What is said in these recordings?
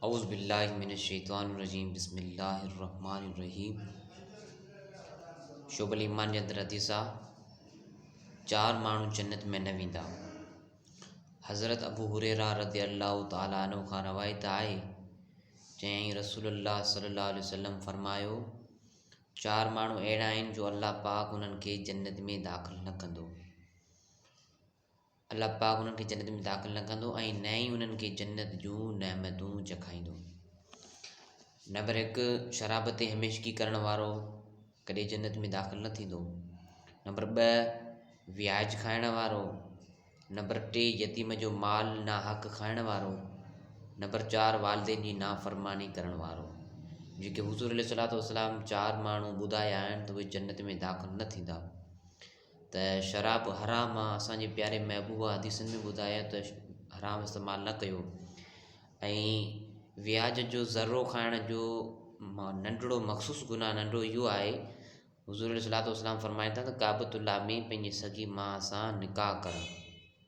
اعوذ بالله من الشيطان الرجيم بسم الله الرحمن الرحيم شعب الایمان جي اندر حديث آ چار ماڻهو جنت ۾ نه ويندا حضرت ابو هريره رضي الله تعالي عنه کان روايت آهي چيائين رسول الله صلي الله عليه وسلم فرمايو چار ماڻهو اهڙا آهن جو الله پاڪ انهن کي جنت ۾ داخل نه ڪندو الله پاڪ انهن کي جنت ۾ داخل نه ڪندو ۽ نه ئي انهن کي جنت جون نعمتون چکائيندو. نمبر هڪ شراب تي هميشگي ڪرڻ وارو ڪڏهن جنت ۾ داخل نه ٿيندو. نمبر ٻه وياج کائڻ وارو. نمبر ٽي يتيم جو مال ناحق کائڻ وارو. نمبر چار والدين جي نافرماني ڪرڻ وارو. جيڪي حضور عليه الصلوۃ والسلام چار ماڻهو ٻڌايا آهن ته اهي جنت ۾ داخل نه ٿيندا. ته شراب حرام آ اسان جي پياري محبوبا حديثن ۾ ٻڌايو ته حرام استعمال نه ڪيو ۽ وياج جو ذرو کائڻ جو ما ننڍڙو مخصوص گناھ ننڍڙو اھو آھي حضور عليه الصلوۃ والسلام فرمائن ٿا ته ڪعبة الله ۾ پنھنجي سڳي ماء سان نڪاح ڪرڻ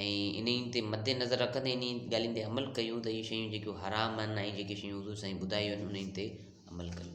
۽ انهن تي مد نظر رکندي انهن ڳالهين تي عمل ڪيون ته اهي شيون جيڪو حرام آهن ۽ جيڪي شيون حضور سائين ٻڌايون آهن انهن تي عمل ڪيون